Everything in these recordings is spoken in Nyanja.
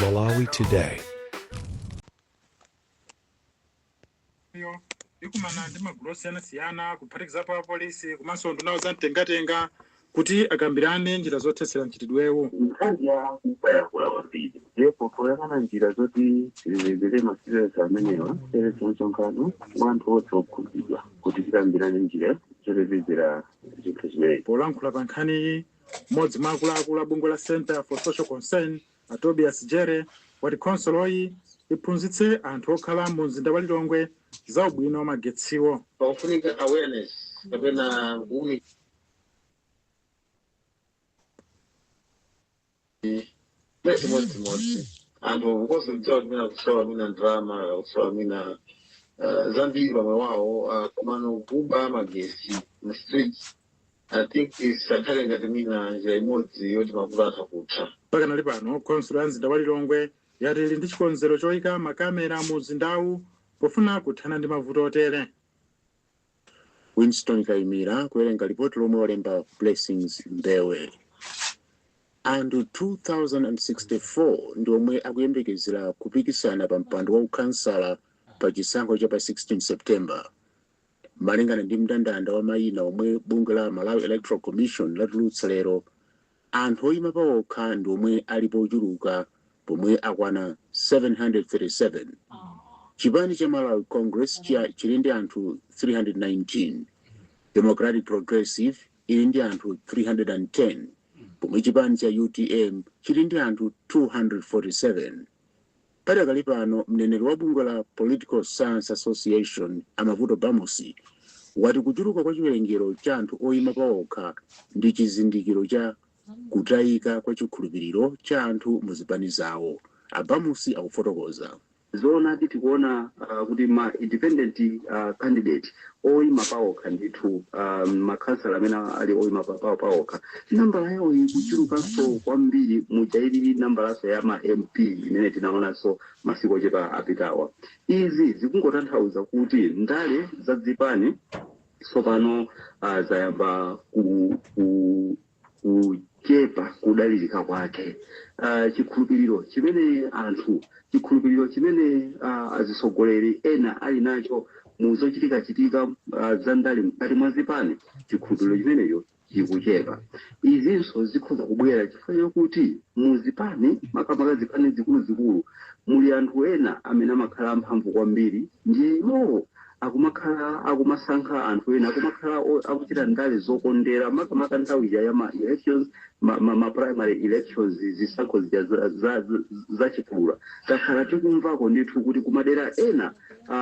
Malawi Today. yo ikumana ndi magulu osiyanasiyana kuphatikizapo apolisi komanso ndunawo za mtengatenga kuti akambirane njira zothetsera mchitidwewu nkhani ya kuba yakula kwambiri ndipo poyang'ana njira zoti tichepetsere ma cases amenewa seresi nsonkhano wa anthu onse okhudzidwa kuti tikambirane njira zochepetsera zinthu zimenezi polankhula pa nkhaniyi M'modzi mwa akuluakulu a bungwe la Centre for Social Concern, a Tobias Jere, wati khonsoloyi iphunzitse anthu okhala mu mzinda wa Lilongwe za ubwino wa magetsiwo. pakufunika awareness kapena kuwunika Mwe chimodzimodzi anthu kuposa kudziwa kumena kusowa mwina ndalama kusowa mwina uh, zambiri pa moyo wawo uh, komano kuba magetsi mu streets i think isakhale ngati mwina njira imodzi yoti mavuto atha kutha pakanali pano khonsolo ya mzinda wa lilongwe yati ili ndi chikonzero choyika makamera mu mzindawu pofuna kuthana ndi mavuto otere Winston Kaimira kuwerenga lipoti lomwe walemba Blessings Mbewe. Anthu 2064 ndi omwe akuyembekezera kupikisana pa mpando wa ukhansala pa chisankho cha pa 16 September. Malingana ndi mndandanda wa mayina omwe bungwe la Malawi Electoral Commission latulutsa lero, Anthu oyima paokha ndi omwe alipo ochuluka pomwe akwana 737. Chipani cha Malawi Congress chili ndi anthu 319. Democratic Progressive ili ndi anthu 310 pomwe chipani cha utm chili ndi anthu 247. Padakali pano, mneneri wa bungwe la Political Science Association, a Mavuto Bamusi, wati kuchuluka kwa chiwerengero cha anthu oyima paokha ndi chizindikiro cha kutayika kwa chikhulupiriro cha anthu mu zipani zawo. A Bamusi akufotokoza. Zoonadi tikuona kuti ma independent candidate oima paokha ndithu makhansala amene ali oima paokha nambala yawo ikuchulukanso kwambiri muja ilili nambalanso ya ma MP imene tinaonanso masiku ochepa apitawa. Izi zikungotanthauza kuti ndale za dzipani tsopano zayamba ku kuchepa kudalirika kwake. Uh, chikhulupiriro chimene anthu chikhulupiriro chimene uh, azitsogoleri ena ali nacho mu zochitikachitika uh, za ndale mkati mwa zipani, chikhulupiriro chimenecho chikuchepa. Izinso zikhoza kubwera chifukwa chakuti mu zipani, makamaka zipani zikuluzikulu, muli anthu ena amene amakhala amphamvu kwambiri, ndiye iwowo akumakhala akumasankha anthu ena akumakhala o- akuchita ndale zokondera makamaka nthawi ija ya ma elections ma, ma, ma primary elections zisankho zija za, za, za, za chipulula takhala tikumvako ndithu kuti kumadera ena ah,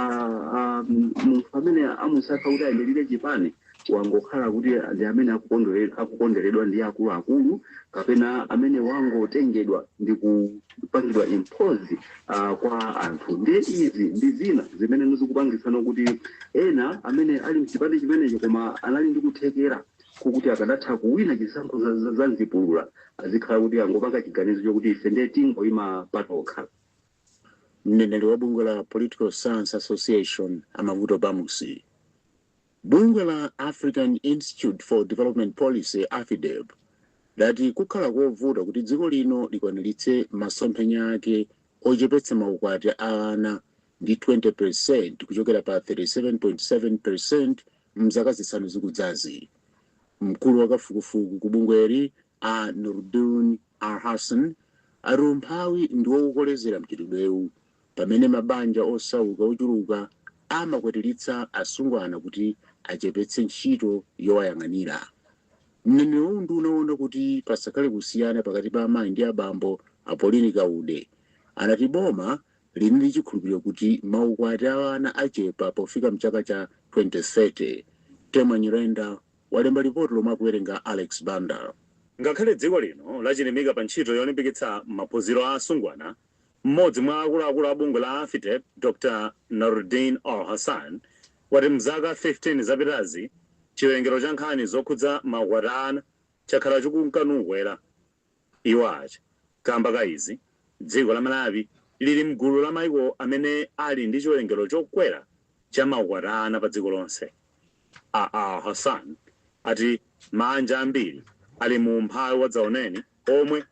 ah, munthu amene amusankha kuti ayimirire chipani wangokhala kuti ndi amene akukondwere- akukonderedwa ndi akuluakulu kapena amene wangotengedwa ndi kupangidwa impose uh, kwa anthu ndiye izi ndi zina zimene zikupangitsano kuti ena amene ali mchipani chimenecho koma anali ndi kuthekera kokuti akadatha kuwina chisankho za- za- za mzipulula azikhala kuti angopanga chiganizo chokuti ife ndiye tingoyima patokha mneneri wa bungwe la political science association a Mavuto Bamusi Bungwe la African Institute for Development Policy, Afidep, lati kukhala kovuta kuti dziko lino likwaniritse masomphenya ake ochepetsa maukwati a ana ndi 20 percent kuchokera pa 37.7 percent m'zaka zisanu zikudzazi. Mkulu wa kafukufuku ku bungweli, A Nurudeen Alhassan ati umphawi ndiwo ukukolezera mchitidwewu pamene mabanja osauka ochuluka amakwatilitsa asungwana kuti achepetse ntchito yowayang'anira. Mneneri wa unduna woona kuti pasakhale kusiyana pakati pa amayi ndi abambo, a Pauline Kaude, anati boma lili ndi chikhulupiliro kuti maukwati a ana achepa pofika mchaka cha 2030. Temwa Nyirenda, walemba lipoti lomwe akuwerenga Alex Banda. Ngakhale dziko lino lachilimika pa ntchito yolimbikitsa maphunziro a asungwana, m'modzi mwa akuluakulu a bungwe la Afidep Dr Nurudeen Alhassan wati mzaka 15 zapitazi chiwerengero cha nkhani zokhudza maukwati a ana chakhala chikunka nukwera. Iwo ati kamba ka izi, dziko la Malawi lili mgulu la maiko amene ali ndi chiwerengero chokwera cha maukwati a ana pa dziko lonse. A Alhassan ati maanja ambiri ali mu umphawi wadzaoneni omwe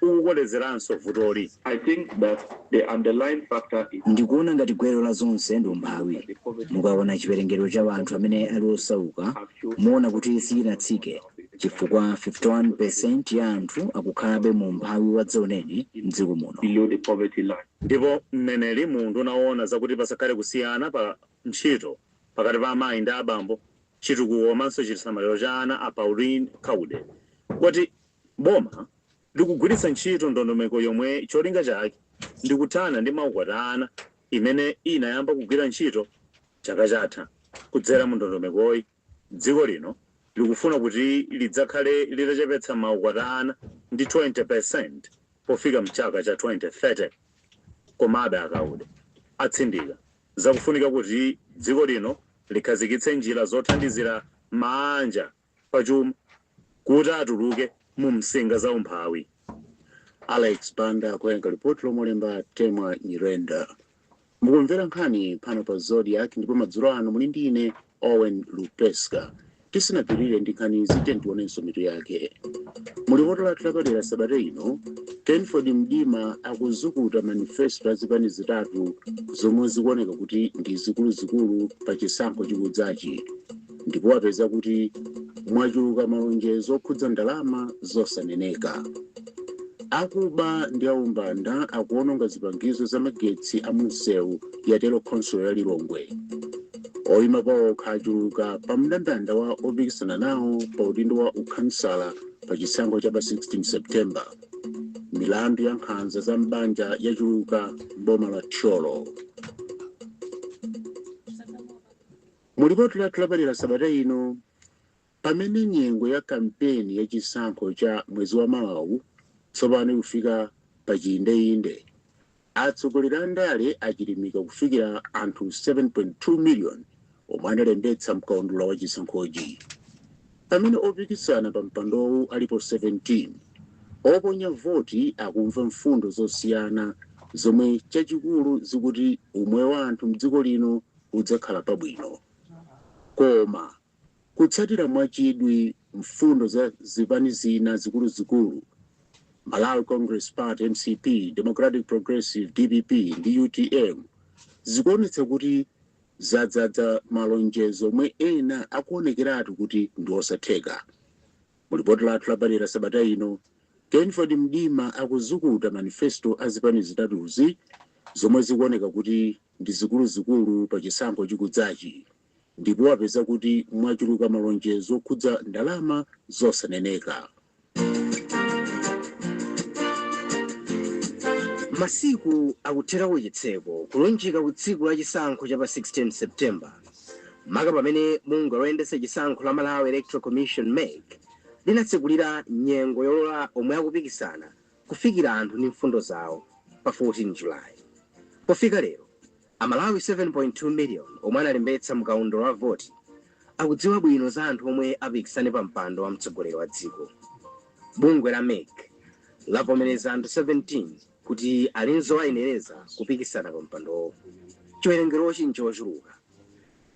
ukukolezeranso vutoli. I think that the underlying factor is. Ndikuona ngati gwero la zonse ndi umphawi. Mukaona chiwerengero cha anthu amene ali osauka muona kuti sichinatsike Chifukwa 51 percent ya anthu akukhalabe mu umphawi wadzaoneni mdziko muno. below the poverty line. Ndipo mneneri mu unduna woona zakuti pasakhale kusiyana pa ntchito pakati pa amayi ndi abambo, chitukuko komanso chisamaliro cha ana a Pauline Kaude wati boma likugwiritsa ntchito ndondomeko yomwe cholinga chake ndi kuthana ndi maukwati a ana imene inayamba kugwira ntchito chaka chatha. Kudzera mu ndondomekoyi. Dziko lino likufuna kuti lidzakhale litachepetsa maukwati a ana ndi 20% pofika mchaka cha 2030. Komabe a Kaude atsindika za kufunika kuti dziko lino likhazikitse njira zothandizira maanja pa chuma kuti atuluke mu msinga za umphawi. Alex Banda kuwerenga lipoti lomwe walemba Temwa Nyirenda. Mukumvera nkhani pano pa Zodiak ndipo madzulo ano muli ndi ine Owen Lupeska. Tisanapitirire ndi nkhanizi, tiyeni tionenso mitu yake. Mu lipoti lathu lapadera sabata ino, Kenford Mdima akuzukuta manifesto a zipani zitatu zomwe zikuoneka kuti ndi zikuluzikulu pa chisankho chikudzachi. ndipo wapeza kuti mwachuluka malonjezo okhudza ndalama zosaneneka. Akuba ndi aumbanda akuwononga zipangizo za magetsi a munsewu, yatero khonsolo ya Lilongwe. Oyima pawokha achuluka pa mndandanda wa opikisana nawo pa udindo wa ukhansala pa chisankho cha pa 16 September. Milandu ya nkhanza za m'banja yachuluka m'boma la Thyolo. Mu lipoti lathu lapadera sabata ino, pamene nyengo ya kampeni ya chisankho cha mwezi wa mawawu tsopano ikufika pa chiindeinde, atsogoleri a ndale achilimika kufikira anthu 7.2 miliyoni omwe analembetsa mkaundula wa chisankhochi. Pamene opikisana pa mpandowu alipo 17, oponya voti akumva mfundo zosiyana zomwe chachikulu zikuti umoyo wa anthu m'dziko lino udzakhala pabwino. Koma kutsatira mwachidwi mfundo za zipani zina zikuluzikulu, Malawi Congress Party, mcp, Democratic Progressive, dpp, ndi utm, zikuonetsa kuti zadzadza malonjezo omwe ena akuonekeratu kuti ndi osatheka. Mu lipoti lathu lapadera sabata ino, Kenford Mdima akuzukuta manifesto a zipani zitatuzi zomwe zikuoneka kuti ndi zikuluzikulu pa chisankho chikudzachi ndipo wapeza kuti mwachuluka malonjezo okhudza ndalama zosaneneka. Masiku akuthera kuchitseko kulunjika ku tsiku la chisankho cha pa 16 September, maka pamene bungwe loyendetsa chisankho la Malawi Electoral Commission, mec, linatsekulira nyengo yolola omwe akupikisana kufikira anthu ndi mfundo zawo pa 14 July. Pofika lero, Amalawi 7.2 million omwe analembetsa mu kaundula wa voti akudziwa bwino za anthu omwe apikisane pa mpando wa mtsogoleri wa dziko. Bungwe la mec lavomereza anthu 17 kuti ali n'zowayenereza kupikisana pa mpandowu. Chiwerengerochi n'chochuluka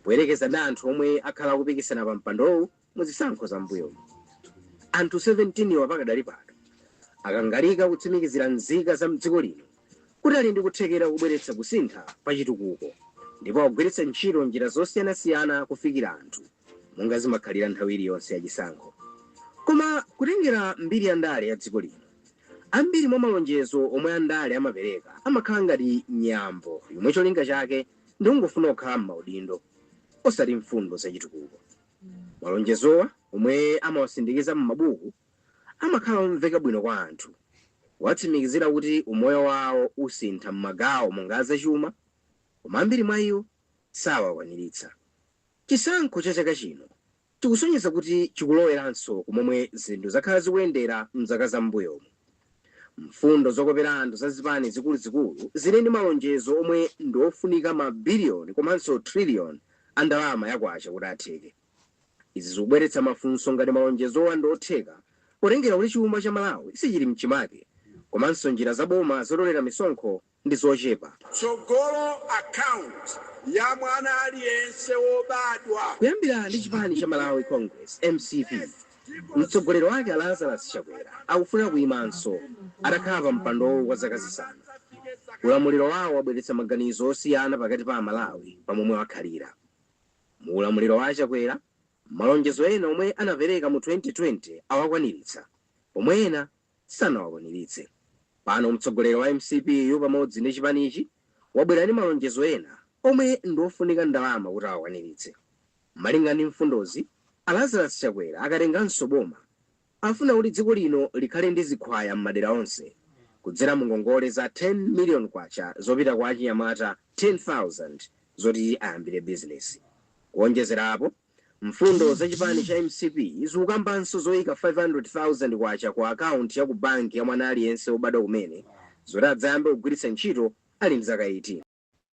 poyerekeza ndi anthu omwe akhala akupikisana pa mpandowu Mu zisankho za m'mbuyomu, anthu 17 wa pakadali pano akangalika kutsimikizira nzika za m'dziko lino kuti ali ndi kuthekera kobweretsa kusintha pa chitukuko ndipo akugwiritsa ntchito njira zosiyanasiyana kufikira anthu monga zimakhalira nthawi iliyonse ya chisankho. Koma kutengera mbiri ya ndale ya dziko lino, ambiri mwa malonjezo omwe andale amapereka amakhala ngati nyambo yomwe cholinga chake ndi kungofuna kukhala m'maudindo osati mfundo za chitukuko. Malonjezowa, omwe amawasindikiza m'mabuku, amakhala omveka bwino kwa anthu, kuwatsimikizira kuti umoyo wawo usintha m'magawo monga a zachuma, koma ambiri mwa iwo sawakwaniritsa. Chisankho cha chaka chino chikusonyeza kuti chikuloweranso ku momwe zinthu zakhala zikuyendera m'zaka za m'mbuyomu. Mfundo zokopera anthu za zipani zikuluzikulu zili ndi malonjezo omwe ndi ofunika ma billion komanso trillion a ndalama ya kwacha kuti atheke. Izi zikubweretsa mafunso ngati malonjezowa ndi otheka potengera kuti chuma cha Malawi sichili mchimake komanso njira za boma zotolera misonkho ndi zochepa. tsogolo account ya mwana aliyense wobadwa. Kuyambira ndi chipani cha Malawi Congress, mcp, mtsogoleri wake a Lazarus Chakwera akufuna kuyimanso atakhala pa mpandowu kwa zaka zisanu. Ulamuliro wawo wabweretsa maganizo osiyana pakati pa Amalawi pa momwe wakhalira. Mu ulamuliro wa a Chakwera, malonjezo ena omwe anapereka mu 2020 awakwaniritsa pomwe ena sanawakwaniritse. Pano mtsogoleri wa mcp yu pamodzi ndi chipanichi wabwera ndi malonjezo ena omwe ndi ofunika ndalama kuti awakwaniritse. Malinga ndi mfundozi, a Lazarus Chakwera akatenganso boma, afuna kuti dziko lino likhale ndi zikhwaya m'madera onse kudzera mu ngongole za 10 million kwacha zopita kwa achinyamata 10,000 zoti ayambire bizinesi. Kuonjezera apo. Mfundo za chipani cha mcp zikukambanso zoika 500,000 kwacha ku akaunti ya ku banki ya mwana aliyense wobadwa kumene zoti adzayambe kugwiritsa ntchito ali ndi zaka 18.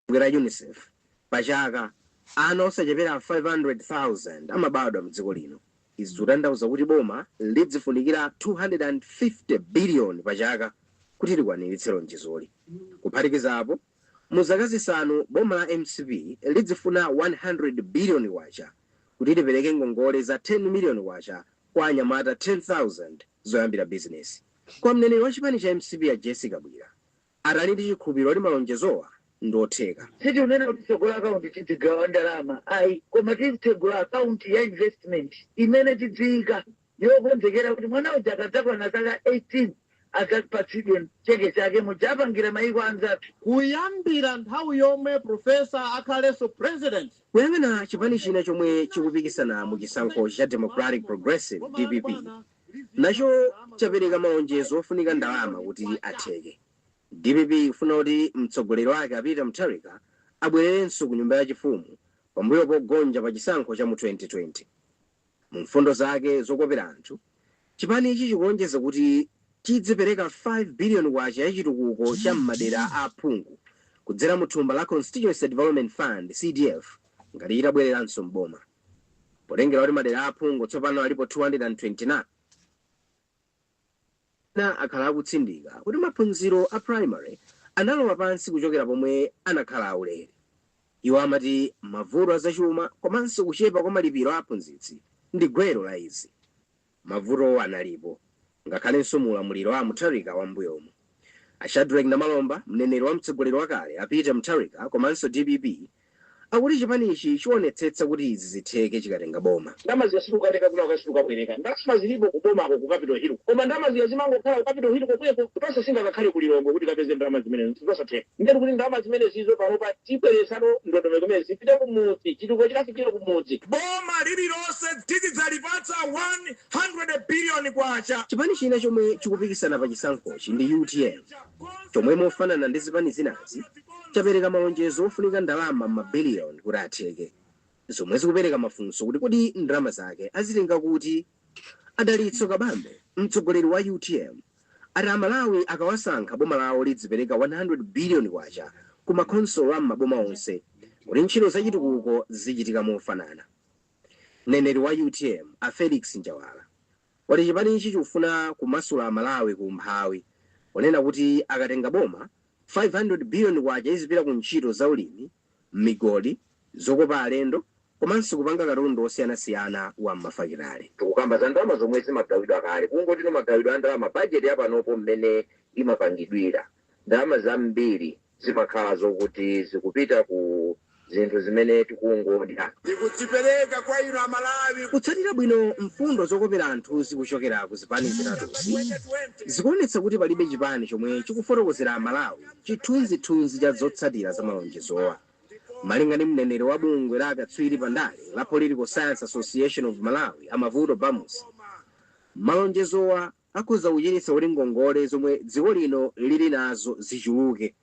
Bungwe la Unicef, Pa chaka, ana osachepera 500,000 amabadwa m'dziko lino. Izi zikutanthauza kuti boma lidzifunikira 250 biliyoni pa chaka kuti likwaniritse lonjezoli. Kuphatikiza apo. Mu zaka zisanu boma la mcp lidzifuna 100 billion kwacha kuti lipereke ngongole za 10 million kwacha kwa anyamata 10,000 zoyambira bizinesi. Kwa mneneri wa chipani cha mcp a Jessie Kabwira ati ali ndi chikhulupiliro kuti malonjezowa ndi otheka. Sitikunena kuti titsegula account tidzigawa ndalama ayi koma tizitsegula account ya investment imene tidziyika yokonzekera kuti mwana uja akadzakwana zaka 18 adzapatsidwe cheke chake muja apangira mayiko anzathu. Kuyambira nthawi yomwe Professor akhalenso President. Kuyang'ana chipani china chomwe chikupikisana mu chisankho cha Democratic Progressive, dpp, nacho chapereka malonjezo ofunika ndalama kuti atheke. Dpp ikufuna kuti mtsogoleri wake a Peter Mutharika abwererenso ku nyumba ya chifumu pambuyo pogonja pa chisankho cha mu 2020. Mu mfundo zake zokopera anthu, chipanichi chikulonjeza kuti chidzipereka 5 billion kwacha ya chitukuko cha m'madera a aphungu kudzera mu thumba la Constituency Development Fund, CDF, ngati chitabwereranso m'boma. Potengera kuti madera a aphungu tsopano alipo 229, Ena akhala akutsindika kuti maphunziro a primary analowa pansi kuchokera pomwe anakhala aulere. Iwo amati mavuto azachuma komanso kuchepa kwa malipiro a aphunzitsi ndi gwero la izi. Mavutowa analipo ngakhalenso mu ulamuliro wa a Mutharika wa mmbuyomu. A Shadreck Namalomba, mneneri wa mtsogoleri wakale a Peter Mutharika komanso dpp, akuti chipanichi chionetsetsa kuti izi zitheke chikatenga boma. Ndalama zija sitikukatenga kwina kwake sitikukabwereka. Ndalama zilipo ku bomako ku Capital Hill ko. Koma ndalama zija zimangokhala ku Capital Hill komweko. Tonse singakakhale ku Lilongwe kuti tikapeze ndalama zimenezo nzosatheka. Ndiye tikuti ndalama zimenezizo panopa tibweretsano ndondomeko imene zipite ku mudzi, chitukuko chikafikire ku mudzi. Boma lililonse tizidzalipatsa 100 billion kwacha. Chipani china chomwe chikupikisana pa chisankhochi ndi utm chomwe mofanana ndi zipani zinazi, chapereka malonjezo ofunika ndalama m'ma billion kuti atheke, zomwe zikupereka mafunso kuti kodi ndalama zake azitenga kuti? A Dalitso Kabambe, mtsogoleri wa utm, ati a Malawi akawasankha boma lawo lidzipereka 100 billion kwacha ku ma khonsolo a m'maboma onse kuti ntchito za chitukuko zizichitika mofanana. Mneneri wa utm, a Felix Njawala, wati chipanichi chikufuna kumasula a Malawi ku umphawi, ponena kuti akatenga boma, 500 billion kwacha izipita ku ntchito za ulimi, migodi, zokopa alendo komanso kupanga katundu osiyanasiyana wa m'mafakitale. Tikukamba za ndalama zomwe zimagawidwa kale, kungotino magawidwe a ndalama budget ya panopo mmene imapangidwira, ndalama zambiri zimakhala zokuti zikupita ku. zinthu zimene tikungodya. Tikudzipereka kwa inu a Malawi. Kutsatira bwino mfundo zokopera anthuzi kuchokera ku zipani zitatuzi zikuonetsa kuti palibe chipani chomwe chikufotokozera a Malawi chithunzi-thunzi cha zotsatira za malonjezowa. Malinga ndi mneneri wa bungwe la akatswiri pa ndale la Political Science Association of Malawi a Mavuto Bamusi, malonjezowa. akhoza kuchititsa kuti ngongole zomwe dziko lino lili nazo zichuluke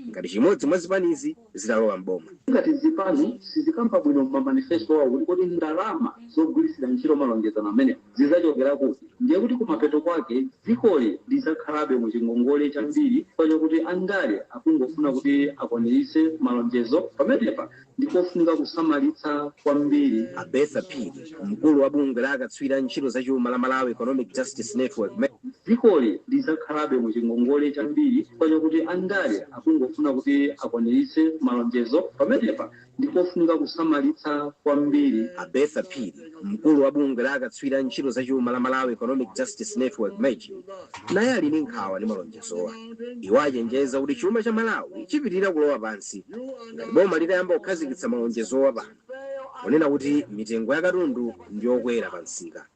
ngati chimodzi mwa zipanizi zitalowa m'boma. Ngati zipani sizikamba bwino m'ma manifesto wawo kuti kodi ndalama zogwiritsira ntchito malonjezano amenewa zidzachokera kuti, ndiye kuti kumapeto kwake dzikoli lidzakhalabe mu chingongole chambiri chifukwa chakuti andale akungofuna kuti akwaniritse malonjezo. Pamenepa ndi kofunika kusamalitsa kwambiri. A Bertha Phiri, mkulu wa bungwe la akatswiri a ntchito za chuma la Malawi Economic Justice Network, mej. Dzikoli lidzakhalabe mu chingongole chambiri chifukwa chakuti andale akungofuna kuti akwaniritse malonjezo. Pamenepa, ndi kofunika kusamalitsa kwambiri. A Bertha Phiri, mkulu wa bungwe la akatswiri a ntchito za chuma la Malawi Economic Justice Network, mej, naye ali ndi nkhawa ndi malonjezo. zowa. Iwo achenjeza kuti chuma cha Malawi chipitirira kulowa pansi ngati boma litayamba kukhazikitsa malonjezowa pano kunena kuti mitengo ya katundu ndi yokwera pa msika.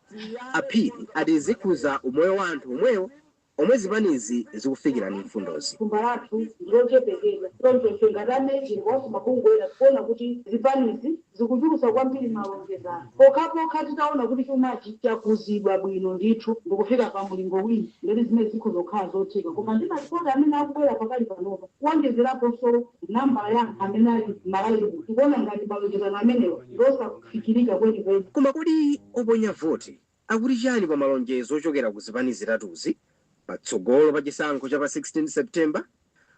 A Phiri ati zikhuza umoyo wa anthu omwewo omwe zipanizi zikufikira ndi mfundozi. Thumba lathu ndi lochepekedwa choncho ife ngati a MEJN ndiponso mabungwe ena tikuona kuti zipanizi zikuchulutsa kwambiri malonjezano pokhapokha titaona kuti chumachi chakuzidwa bwino ndithu ndikufika pa mulingo wina ndeti zimenezi zikhoza kukhala zotheka koma ndi malipoti amene akubwera pakali panopa kuonjezeraponso nambala ya anthu amene ali m'Malawi tikuona ngati malonjezano amenewa ndi osafikirika kwenikweni. Koma kodi oponya voti akuti chani pa malonjezo ochokera ku zipani zitatuzi patsogolo pa chisankho cha pa 16 September?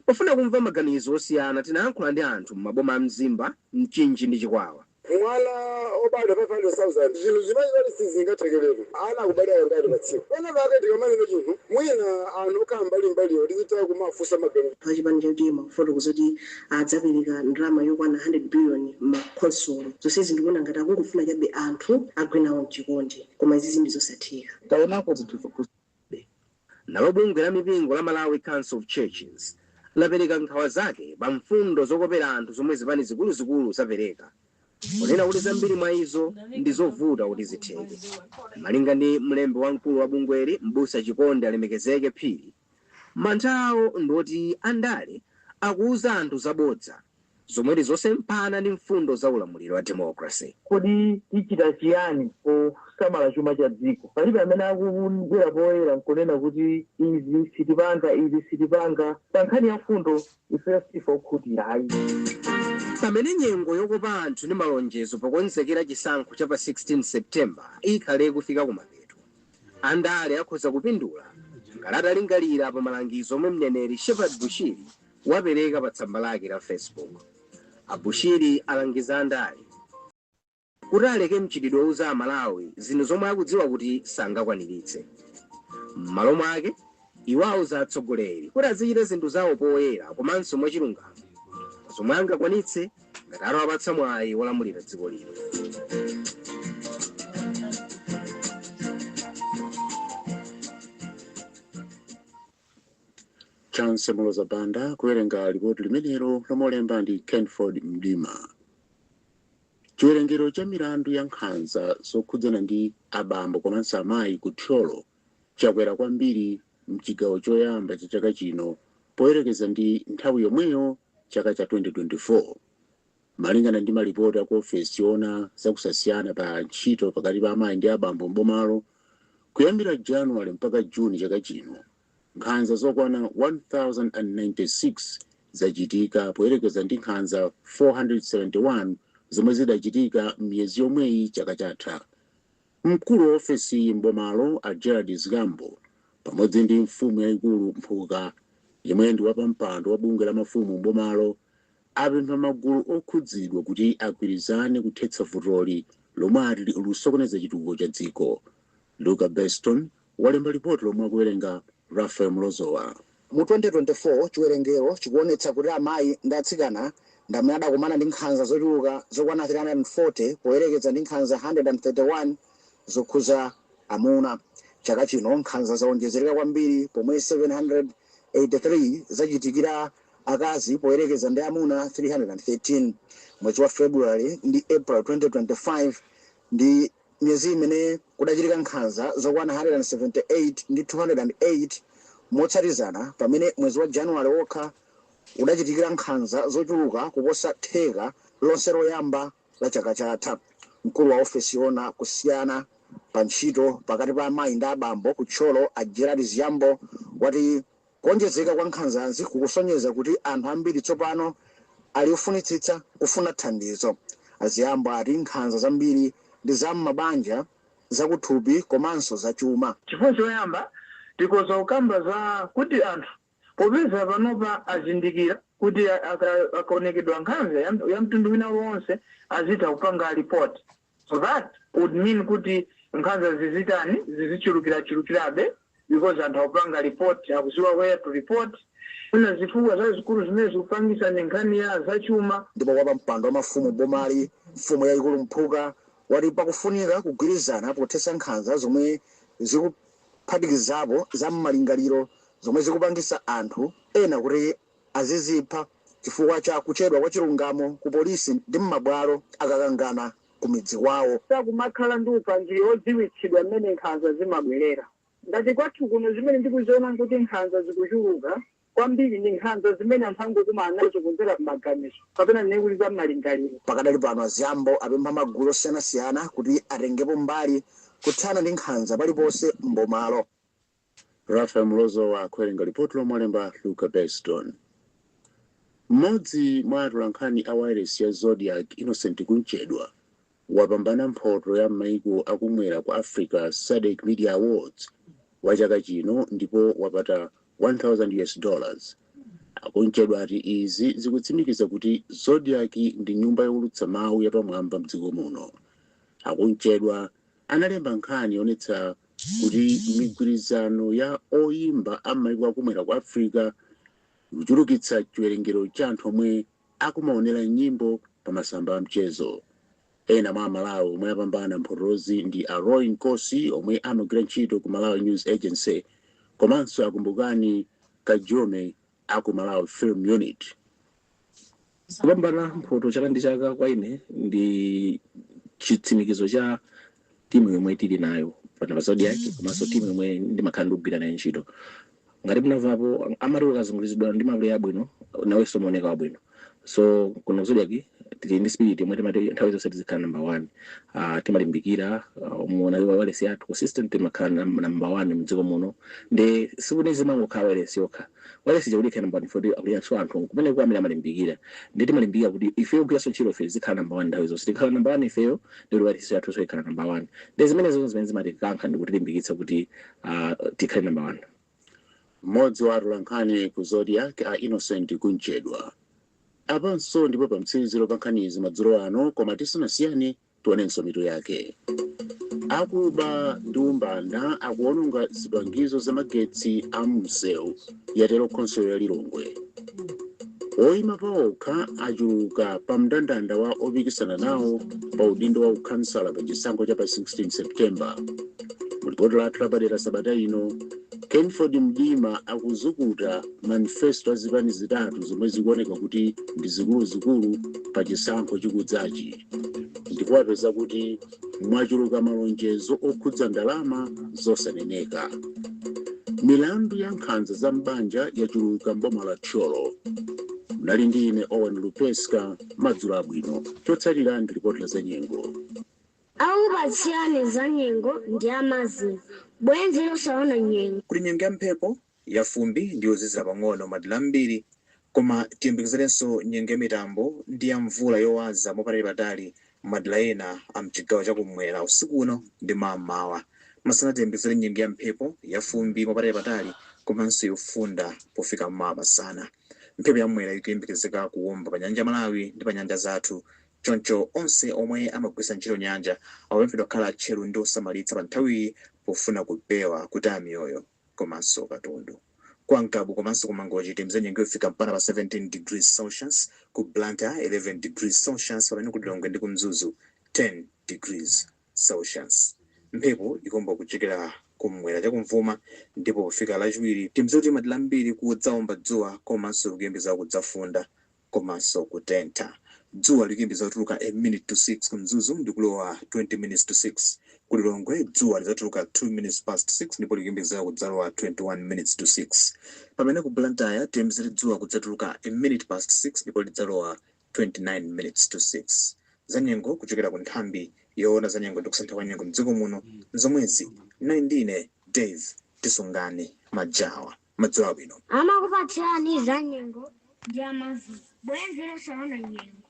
Pofuna kumva maganizo osiyana tinayankhula ndi anthu m'maboma a Mzimba, Mchinji ndi Chikwawa. mwana wobadwa 500,000 chinthu chimene choti sichingathekeretu ana akubadwa kangati pa tsiku pena pake tikamanena chinthu mwina anthu okhala mbali mbaliwo tizitha kumawafunsa maganizo. Achipani cha utm akufotokoza kuti adzapereka ndalama yokwana 100 biliyoni mma khonsolo. Zonsezi ndikuona ngati akungofuna chabe anthu agwe nawo mchikondi koma izizi ndi zosatheka. Taonako zinthu zopusabe. Nalo bungwe la mipingo la Malawi Council of Churches lapereka nkhawa zake pa mfundo zokopera anthu zomwe zipani zikuluzikulu zapereka kunena kuti zambiri mwa izo ndi zovuta kuti zitheke. Malinga ndi mlembi wamkulu wa bungweli M'busa Chikondi Alemekezeke Phiri, Mantha awo ndi oti andale akuuza anthu zabodza zomwe ndi zosemphana ndi mfundo za ulamuliro wa democracy. Kodi tichita chiyani posamala chuma cha dziko? Palibe amene akubwera poyera n'kunena kuti, Izi sitipanga, izi sitipanga. Pa nkhani ya mfundo, ifeyo si ife okhutira ayi. Pamene nyengo yokopa anthu ndi malonjezo pokonzekera chisankho cha pa 16 September ikhale ikufika kumapeto, Andale akhoza kupindula ngati atalingalira pa malangizo omwe mneneri Shepherd Bushiri wapereka pa tsamba lake la Facebook. A Bushiri alangiza andale kuti aleke mchitidwe wouza a Malawi zinthu zomwe akudziwa kuti sangakwaniritse. M'malo mwake. Iwo auza atsogoleri kuti azichita zinthu zawo poyera komanso mwachilungamo pa zomwe angakwanitse ngati atawapatsa mwayi wolamulira dziko lino. Chance Moloza Banda kuwerenga lipoti limenelo lomwe olemba ndi Kenford Mdima. Chiwerengero cha milandu ya nkhanza zokhudzana ndi abambo komanso amayi ku Thyolo chakwera kwambiri mchigawo choyamba cha chaka chino poyerekeza ndi nthawi yomweyo chaka cha 2024. Malingana ndi malipoti aku ofesi yoona za kusasiyana pa ntchito pakati pa amayi ndi abambo m'bomalo, kuyambira January mpaka June chaka chino, nkhanza zokwana 1,096 zachitika poyerekeza ndi nkhanza 471 zomwe zidachitika m'miyezi yomweyi chaka chatha. Mkulu wa ofesiyi m'bomalo a Gerald Zgambo pamodzi ndi mfumu yaikulu Mphuka yemwe ndi wapampando wa bungwe la mafumu m'bomalo apempha magulu okhudzidwa kuti agwirizane kuthetsa vutoli lomwe ati likusokoneza chitukuko cha dziko. Luka Beston, walemba lipoti lomwe akuwerenga Raphael Mlozowa. Mu 2024, chiwerengero chikuwonetsa kuti amayi ndi atsikana ndi amene adakumana ndi nkhanza zochuluka zokwana 340 poyerekeza ndi nkhanza 131 zokhuza amuna. Chaka chino nkhanza zawonjezereka kwambiri pomwe 783 zachitikira akazi poyerekeza ndi amuna 313. Mwezi wa February ndi April 2025 ndi. Miyezi imene kudachitika nkhanza zokwana 178 ndi 208 motsatizana pamene mwezi wa January wokha kudachitikira nkhanza zochuluka kuposa theka lonse loyamba la chaka chatha, mkulu wa ofesi yoona kusiyana pa ntchito pakati pa amayi ndi abambo ku Thyolo a Gerald Zgambo wati. Kuwonjezeka kwa nkhanzazi kukusonyeza kuti anthu ambiri tsopano ali ofunitsitsa kufuna thandizo. A Ziyambo ati nkhanza zambiri ndi za m'mabanja, zakuthupi komanso zachuma. Chifukwa choyamba tikhoza kukamba za kuti anthu popeza panopa azindikira kuti akaonetsedwa nkhanza ya mtundu wina uliwonse azitha kupanga lipoti. So that would mean kuti nkhanza zizitani zizichulukirachulukirabe because anthu akupanga report akuziwa where to report zina zifukwa zazikulu zimene zikupangisa ndi nkhani ya zachuma ndipo wapampando wa mafumu bomali mfumu yayikulu Mphuka wati pakufunika kugwirizana pothetsa nkhanza zomwe zikuphatikizapo za mmalingaliro zomwe zikupangisa anthu ena kuti Azizipha chifukwa cha kuchedwa kwa chilungamo ku polisi ndi mmabwalo akakangana ku midzi kwawo. Sakumakhala ndi upangiri odziwitsidwa mmene nkhanza zimabwerera. Ngati kwathu kuno zimene ndikuziona nkuti nkhanza zikuchuluka kwambiri ndi nkhanza zimene anthu angokumana nazo kudzera mmaganizo kapena tinene kuti za mmalingaliro. Pakadali pano a Ziyambo apempha magulu osiyanasiyana kuti atengepo mbali kuthana ndi nkhanza paliponse mbomalo. Raphael Mlozowa akuwerenga lipotilo molemba Luka Beston. Mmodzi mwa atolankhani a wailesi ya Zodiak, Innocent Kumchedwa, wapambana mphoto ya m'maiko a kumwera kwa Africa Sadc Media Awards wa chaka chino ndipo wapata 1000 US dollars. A Kumchedwa ati izi zikutsimikiza kuti Zodiak ndi nyumba youlutsa mawu yapamwamba mdziko muno. A Kumchedwa analemba nkhani yoonetsa kuti migwirizano ya oyimba a mmaiko a kumwera kwa Africa ikuchulukitsa chiwerengero cha anthu omwe akumaonera nyimbo pa masamba a mchezo. Ena mwa aMalawi omwe apambana mphotozi ndi a Roy Nkosi omwe amagwira ntchito ku Malawi News Agency komanso a Kumbukani Kajome a ku Malawi Film Unit. Kupambana mphoto chaka ndi chaka kwa ine ndi chitsimikizo cha timu yomwe tili nayo pano pa Zodiac komanso timu yomwe ndimakhala ndikugwira nayo ntchito. Ngati munamvapo amati ukazunguliridwa ndi mapuleya abwino nawenso umaoneka wabwino. So kuno ku Zodiac tili ndi spirit yomwe timati nthawi zonse tizikhala number one. Uh, timalimbikira uh, mukaona wailesi yathu consistent timakhala nam- number one mdziko muno ndi sikuti zimangokhala wailesi yokha Wailesi ija kuti ikhale number 1 ifunika kuti alinso anthu kumeneko amene amalimbikira ndiye timalimbikira kuti ifeyo kugwiranso ntchito ife tizikhala number 1 nthawi zonse tikakhala number 1 ifeyo ndiye kuti wailesi yathunso ikhala number 1 ndi zimenezo zimene zimatikankha ndi kutilimbikitsa kuti ah, tikhale number 1 mmodzi wa atolankhani ku zodiac a innocent kumchedwa apanso ndipo pamtsiriziro pa nkhanizi madzulo ano koma tisanasiyane Tionenso mitu yake. Akuba ndi umbanda akuononga zipangizo za magetsi a msewu, yatero khonsolo ya Lilongwe. Oima paokha achuluka pa mndandanda wa opikisana nawo pa udindo wa ukhansala pa chisankho cha pa 16 September. Mu lipoti lathu lapadera sabata ino, Kenford Mdima akuzukuta manifesto a zipani zitatu zomwe zikuoneka kuti ndi zikuluzikulu pa chisankho chikudzachi. ndipo apeza kuti mwachuluka malonjezo okhudza ndalama zosaneneka milandu ya nkhanza za m'banja yachuluka mboma la thyolo mnali ndi ine owen lupeska madzulo abwino chotsatira ndi lipoti la zanyengo akupatsirani za nyengo ndi a Marvin bwenzi losaona nyengo kuli nyengo ya mphepo yafumbi ndi yozizira pang'ono madera ambiri, koma tiyembekezerenso nyengo yamitambo ndi yamvula yowaza mwapatali-patali madera ena a m'chigawo cha kum'mwera usiku uno ndi mawa m'mawa. Masana tiyembekezere nyengo yamphepo, yafumbi mwapatali-patali komanso yofunda pofika mawa masana. Mphepo yamwera ikuyembekezeka kuwomba pa Nyanja ya Malawi ndi pa nyanja zathu, choncho onse omwe amagwiritsa ntchito nyanja akupemphedwa kukhala atcheru ndi osamalitsa panthawiyi pofuna kupewa kutaya miyoyo. komanso katundu. Kwa Ngabu komanso ku Mangochi tiyembekezere nyengo yofika mpaka pa 17 degrees Celsius, ku Blantyre 11 degrees Celsius pamene ku Lilongwe ndi ku Mzuzu 10 degrees Celsius. Mphepo ikuomba kuchokera kum'mwera chakumvuma ndipo pofika lachiwiri tiyembekezere kuti madera ambiri kudzawomba dzuwa komanso kukuyembekezeka kudzafunda komanso kutentha. Dzuwa likuyembekezeka kudzatuluka a minute to 6 ku Mzuzu ndi kulowa 20 minutes to 6 ku Lilongwe dzuwa lidzatuluka 2 minutes past 6 ndipo likuyembekezeka kudzalowa 21 minutes to 6 pamene ku Blantyre tiyembekezere dzuwa kudzatuluka a minute past 6 ndipo lidzalowa 29 minutes to 6. Zanyengo kuchokera ku nthambi yoona zanyengo ndi kusintha kwa nyengo m'dziko muno n'zomwezi. Mnali ndi ine Dave Tisungane Majawa. Madzulo abwino. Amakupatsirani zanyengo ndi a Marvin, bwenzi losaona nyengo.